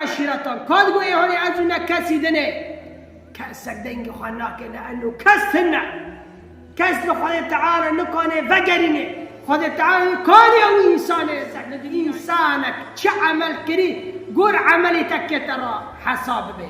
Eşîretan ka di goyêhanê ez û ne kesî din e. Kesek dengê xwe nake li eno kes tim ne. Kes li Xwedê Teala nikane vegerîne. Xwedê Teala li kaniya wî însanê li ser li di însanek çi emel kirî gor emelê te kete ra hesab bibe.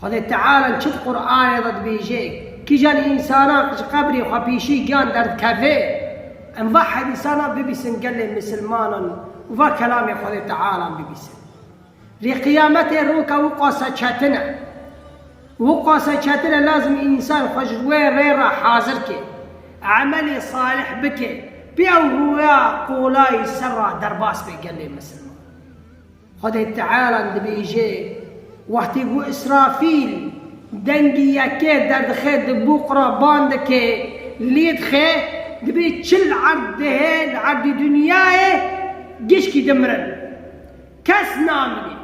Xwedê Teala çi di Quranê de dibêje, Kîjan însanan ku ji qebrê xwe pêşî giyan derdikeve? Em va hedîsanan bibîsin gelê misilmanan û va kelamê Xwedê Tealan bibîsin. Rê qiyametê roka wiqasa çetin e. Wiqasa çetin e lazim însan xwe ji wê rê re hazir ke, emelê salih bike, pê ew rûya qolayî ser re derbas be gelê misilman. Xwedê Teala dibêje, Wextê ku Îsrafîl dengê yekê derdixe di bûq re ban dike, lê dixe, dibê çil erd dihê li erdê dinyayê gişkî dimirin. Kes namîne.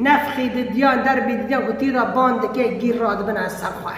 Nefxê di diyan derbê dîtiyan ku tî re ban dike, gîr radibine ser xwe.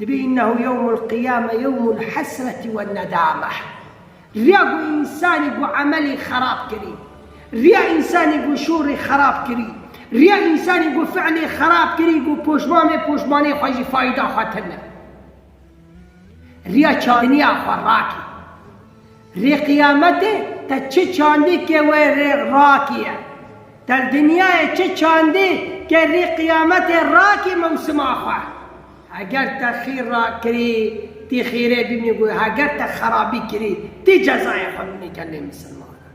Dibî innehu yewmulqiyame yewmulhesreti wennedameh. Riya ku însanî ku emelî xerab kirî, riya însanî ku şûrî xerab kirî, riya însanî ku fiilî xerab kirî ku poşman bê poşmanê xwe jî fayda xwe tune. Riya çarinîya xwe rakî. Rê qiyametê te çi çandî ke wê rê rakî ye. Te li dinyayê çi çandî ke rê qiyametê rakî mewsima xwe. Heger te xîr rakirî tî xîrê bimî ku heger te xerabî kirî tî cezayê xwe bimî gelê misilmanan.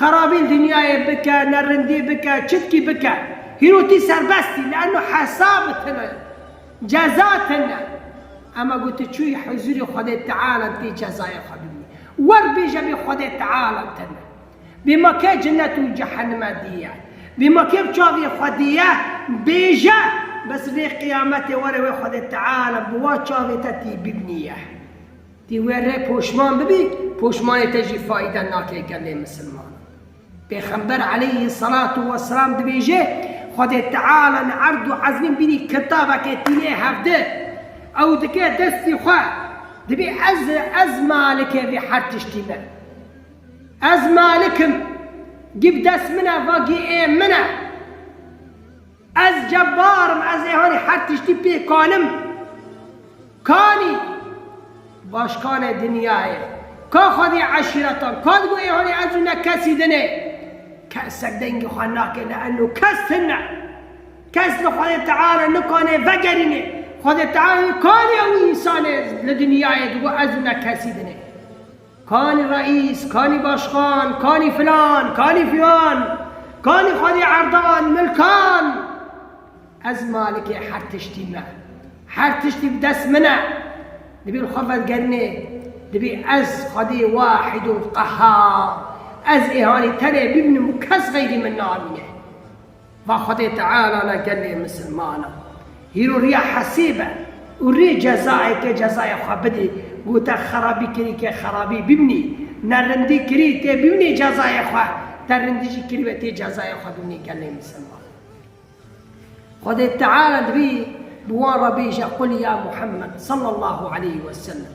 Xerabîn dinyayê bike, nerindî bike, çitkî bike. Hîro tî serbest î leano hesa bi tine, ceza tine. Ema ku tu çûyî huzûrê Xwedê Teala tê cezayê xwe bibî. Wer bêje bê Xwedê Teala tine. Bê ma kê cinet û cehenime dîye. Bê ma kê bi çavê xwe dîye, bêje bes rê qiyametê were wê Xwedê Teala bi wa çavê te tî bibnîye. Ti we re poşman bibî, poşmanê te jî fayde nake gelê misilman. Pêxember aleyhî selatû weselam dibêje, Xwedê Teala li erd û ezmîn bînî kitabeke tînê hevdi. Ew dike destî xwe, dibê ez ez malike vê her tiştî me. Ez malik im, gî bi dest min e, va gî ê min e. Ez cebar im ez ê hanî her tiştî pê kanim kanî başkane dinyayê ka xwedî eşîretan ka digo ê hanî ez û ne kesî din ê kese dengê xwe nake leeno kes tin ne kes li xwedê teala nikanê vegerînê xwedê teala nikanê ew însanê li dinyayê digo ez û ne kesî din ê. Kanî reîs, kanî başxan, kanî filan, kanî filan, kanî xwedî erdan, milkan. Ez malikê her tiştî me. Her tiştî bi dest min e. Dibî li xwe vedigerînê, dibî ez xwedî wahîdul qehhar, ez îhanî tenê bîbinim û kes xeyrî min namîne. Va Xwedê Teala la gelê misilmanan hîroriya hesêbe û rê cezayeke cezaya xwe bidê. Gote xerabî kirî ke xerabî bimnî, ne rindî kirî tê bimnî cezaya xwe, te rindî jî kirî ve tê cezaya xwe bimnî gelê misilmanan. Xwedê Teala divî bi wan re bêje Qul ya Muhammed sallallahu aleyhi wesellem.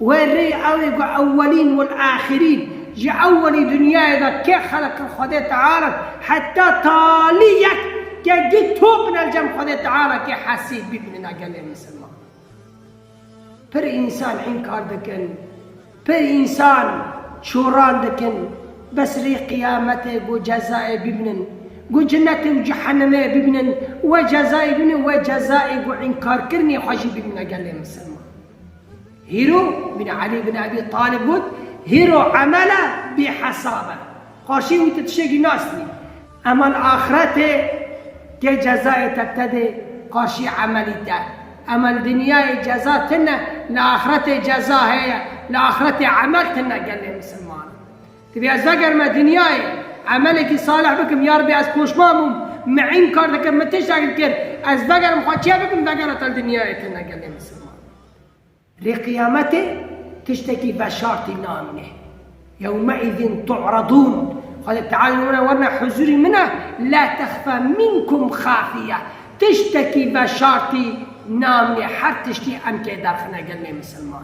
We rê ew ê ku ewelîn wal axirîn ji ewelî dinyayê de kê xelek li Xwedê Teala in heta talî yek ke du top in elcem Xwedê Teala kê hesîb bî binina gelê misilman. Pir însan înkar dikin, pir însan çoran dikin bes rê qiyametê ku cezayê bibinin ku cinetê û cehenimê bibinin we cezayê bibinin we cezayê ku înkarkirinê xwe jî bibina gelê misilman. Hîro bin Elî bin Ebî Talib got, Hîro emel e bî hesab e. Xwaşî wî te tiştekî nas nî. Emel axretê ke cezayê te tedê xwaşî emelî te. Emel dinyayê ceza tine li axretê ceza heye, li axretê emel tine gelê misilman. Divê ez vegerim me dinyayê, emelekî salih bikim, yarbi ez poşman bûm, mi'în kar dikim, min tiştekî kir, ez vegerim xwe çê bikim vegera te li dinyayê tune gelê misilman. Lê qiyametê tiştekî veşartî namîne. Yewme'îzîn tu'redûn, Xwedê Teala li wan e werine huzûrî min e, la texfe minkum xafiye, tiştekî veşartî namîne, her tiştî em tê derxine gelê misilman.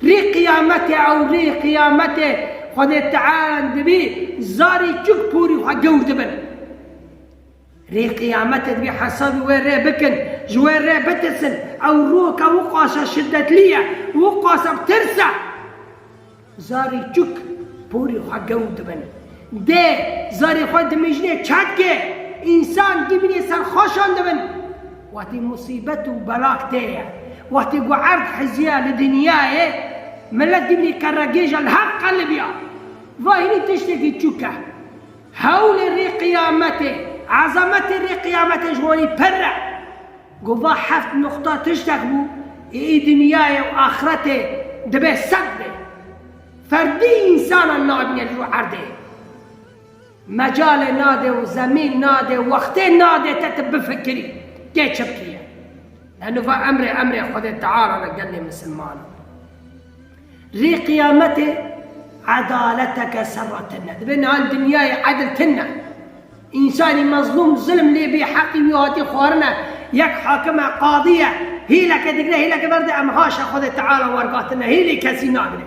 Rê qiyamete ew rê qiyamete Xwedê teal dibî zarî çik porî xwe gewr dibin. Rê qiyamete dibî hesabî wê rê bikin, ji wê rê bitirsin. Ew roka wiqasa şiddetlî ye, wiqasa bi tirs e. Zarî çik porî xwe gewr dibin. Dê zarê xwe dimijne çekê însan dimînê ser xweşan dibin. Wextî musîbet û bela tê ye, wextî ku erd hizîya li dinyayê, milet dimî qeregêj e li her qelibîya. Zahîrî tiştekî çûk e. Hewlê rê qiyametê, ezametê rê qiyametê ji wanî pirr e. Ku va heft nuqta tiştek bû, ê dinyayê û axretê dibe sed be. Ferdî însanan nabîne li rû erdê. Mecalê nade û zemîn nade û wextê nade te tu bifikirî kê çi bikî ye. Ne nuva emrê emrê Xwedê Teala ne gelê misilmanan. Rê qiyametê edaleteke ser re tine. Divê niha li dinyayê edil tine. Însanî mezlûm zilm lê bî heqî wî hatî xwarine, yek hakim e, qadî ye, hîleke digre hîleke ver de em haşa Xwedê Teala wergatine, hîlî kesî nagire.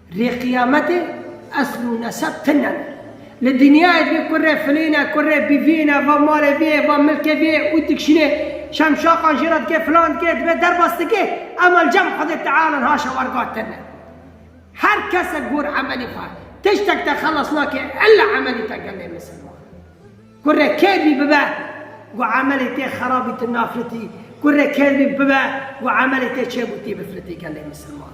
Rê qiyametê esl û neseb tune. Li dinyayê bê ku rê filîne, ku rê bivîne, va malê vê ye, va milkê vê ye û dikişînê şemşaxan jê re dike filan dike, dibe derbas dike, ema li cem Xwedê Teala niha şewerga tune. Her kesek gor emelî xwe tiştek de xelas nake illa emelî te gelê misilman. Ku rê kêr bî bibe ku emelê tê xerabî tu nafilitî, ku rê kêr bî bibe ku emelê tê çêbûtî bifilitî gelê misilman.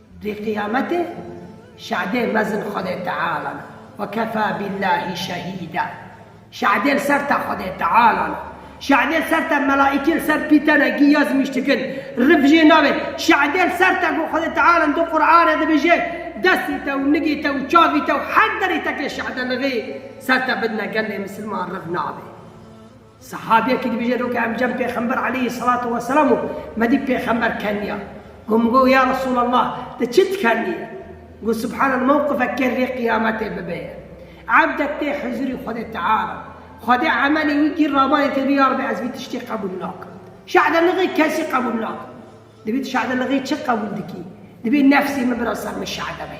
Di qiyametê şehidê mezin Xwedê Teala ne. Ve kefâ billâhî şehîda. Şehidê li ser te Xwedê Teala ne. Şehidê li ser te melaîkê li ser pî te ne, giya zimîş dikin, rif jê nabe. Şehidê li ser te ku Xwedê Teala li Quranê dibêje, Destê te û nigê te û çavê te û her derê te ke şehide li rê ser te bidine gelê misilman rif nabe. Sahabiyekî dibêje do ke em cem Pêxember aleyhî selatû weselam û me dît Pêxember kenniya. Got min got, Ya Resûlallah! Ti çi dikenî? Got, Subhanel mewqifek kê rê qiyametê bibe ye. Ebdek tê huzûrî Xwedê Teala de. Xwedê emelê wî gîr rabanê tê bî ya Rebbi ez vî tiştî qebûl nakim. Şehde li rê kesî qebûl nakim. Divê tu şehde li rê çi qebûl dikî? Divê nefsê min bira ser min şehde be.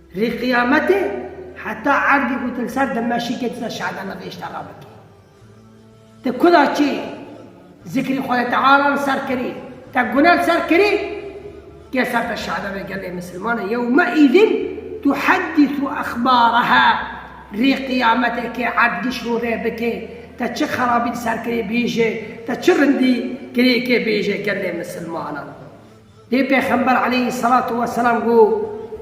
Rê qiyametê heta erdî ku tu li ser Dimeşikê, tu ser Şe'bana vê îşta re bikî. Te kuda çi zikrî Xwedê Teala li ser kirî, te gune li ser kirî, gel ser te şe'bebe gelê misilmane yewme îzin tuheddisu exbaraha rê qiyametê kê erd giş rû rê bikê, te çi xerabî li ser kirî bêje, te çi rindî kirî kê bêje gelê misilmanan. Lê Pêxember aleyhî selatû weselam got,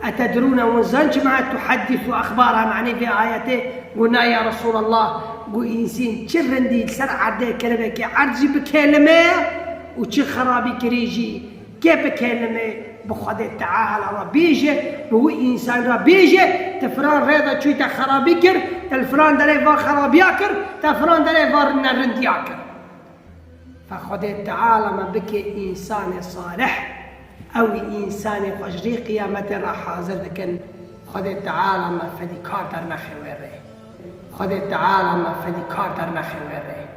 Etedrûne win zan çima et tuhedîsû exbaraha manê vê ayetê? Got, Na ya Resûlallah! Got, Însên çi rindî li ser erdê kelebekê erd jî bikelimê û çi xerabîkirî jî kê bikelimê bi Xwedê Teala re bêje, bi wî însan re bêje, Te filan rê de çûyî te xerabî kir, te li filan derê va xerabiya kir, te filan derê va ne rindiya kir. Fa Xwedê Teala me bike însanê salih, ew ê însanê xwe ji rê qiyametê re hazir dikin, Xwedê Teala me fedîkar dernexe wê rê. Xwedê Teala me fedîkar dernexe wê rê.